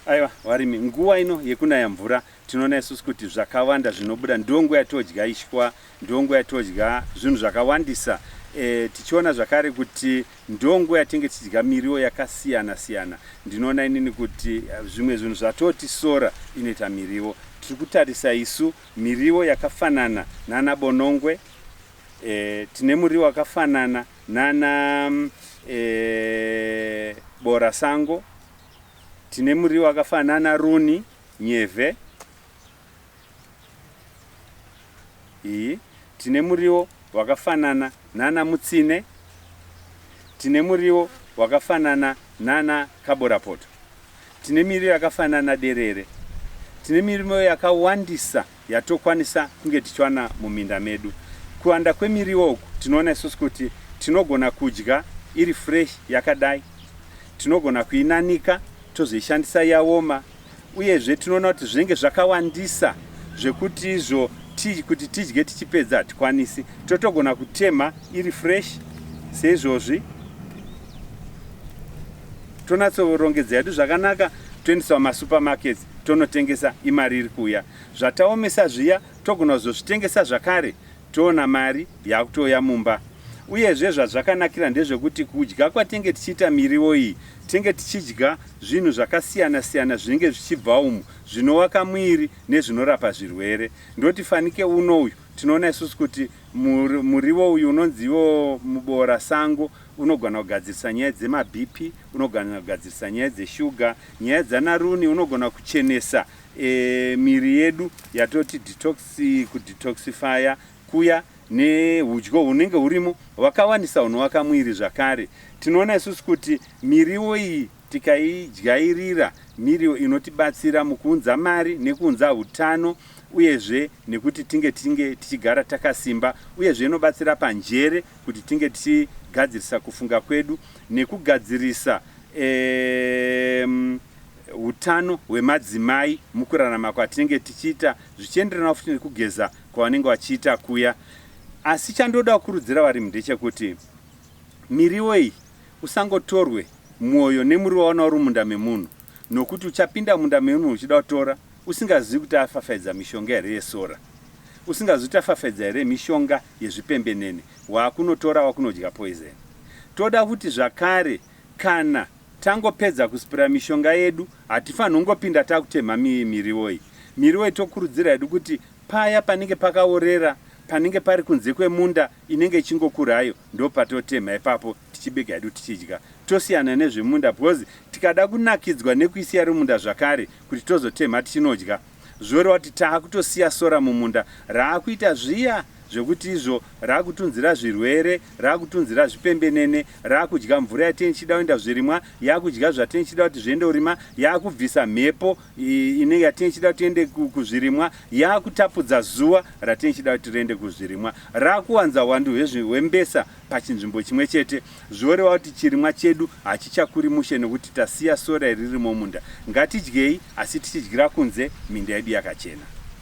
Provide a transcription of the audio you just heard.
Aiwa varimi, nguva ino yekunaya mvura tinoona isusu kuti zvakawanda zvinobuda ndiyo nguva yatodya ishwa, ndiyo nguva yatodya zvinhu zvakawandisa e, tichiona zvakare kuti ndiyo nguva yatinge tichidya miriwo yakasiyana siyana. Ndinoona inini kuti eh, zvimwe zvinhu zvatoti sora inoita miriwo. Tiri kutarisa isu miriwo yakafanana nana bonongwe e, tine muriwo wakafanana nana e, bora sango Tine muriwo akafanana runi, nyevhe iyi. Tine muriwo wakafanana nana mutsine. Tine muriwo wakafanana nana kaborapoto. Tine miriwo yakafanana derere. Tine miriwo yakawandisa. yatokwanisa kunge tichiwana muminda medu. Kuwanda kwemiriwo uku tinoona isusu kuti tinogona kudya iri fresh yakadai, tinogona kuinanika tozoishandisa yaoma, uyezve tinoona kuti zvinenge zvakawandisa zvekuti izvo ti, kuti tidye tichipedza hatikwanisi, totogona kutemha iri fresh seizvozvi tonatsorongedza yedu zvakanaka toendesa mumasupermarkets tonotengesa imari iri kuuya zvataomesa zviya togona kuzozvitengesa zvakare toona mari yaakutouya mumba uyezve zvazvakanakira ndezvekuti kudya kwatenge tichiita miriwo iyi tenge tichidya zvinhu zvakasiyana siyana zvinenge zvichibva umu zvinovaka mwiri nezvinorapa zvirwere ndoti fanike uno uyu tinoona isusu kuti muriwo uyu unonziwo muboora sango unogona kugadzirisa nyaya dzemabp unogona kugadzirisa nyaya dzeshuga Nyaya dzana Runi unogona kuchenesa e, miri yedu yatoti detox kudetoxifya kuya neudyo hunenge hurimo hwakawanisa hunovaka mwiri zvakare tinoona isusu kuti miriwo iyi tikaidyairira miriwo inotibatsira mukuunza mari nekuunza utano uyezve nekuti tinge tinge tichigara takasimba uyezve inobatsira panjere kuti tinge tichigadzirisa kufunga kwedu nekugadzirisa hutano um, hwemadzimai mukurarama kwatinenge tichiita zvichienderana futi nekugeza kwavanenge vachiita kuya asi chandoda kukurudzira varimi ndechekuti miriwo iyi usangotorwe mwoyo nemuriwo waona uri munda memunhu nokuti uchapinda munda memunhu uchida kutora Usingazivi kuti afafaidza mishonga here yesora? Usingazivi kuti afafaidza here mishonga yezvipembenene? Wakunotora wakunodya poison. Toda kuti zvakare kana tangopedza kuspira mishonga yedu hatifanhi kungopinda takutemha miriwo iyi. Miriwo iyi tokurudzira hedu kuti paya panenge pakaorera, panenge pari kunze kwemunda inenge ichingokura hayo ndopatotemha ipapo. tichibika hedu tichidya tosiyana nezvemunda because tikada kunakidzwa nekuisiya rimunda zvakare kuti tozotemha tichinodya zvoreva kuti taakutosiya sora mumunda raakuita zviya zvekuti izvo raakutunzira zvirwere raakutunzira zvipembenene raakudya mvura yatenge ichida kuenda zvirimwa yaakudya zvatenge ichida kuti zviende kurima yaakubvisa mhepo ine yatenge ichida kuti ende kuzvirimwa yaakutapudza zuva ratenge ichida kuti riende kuzvirimwa raakuwanza hwandu hwembesa pachinzvimbo chimwe chete zvoreva kuti chirimwa chedu hachichakuri mushe nekuti tasiya sora iri ririmo munda. Ngatidyei asi tichidyira kunze minda yedu yakachena.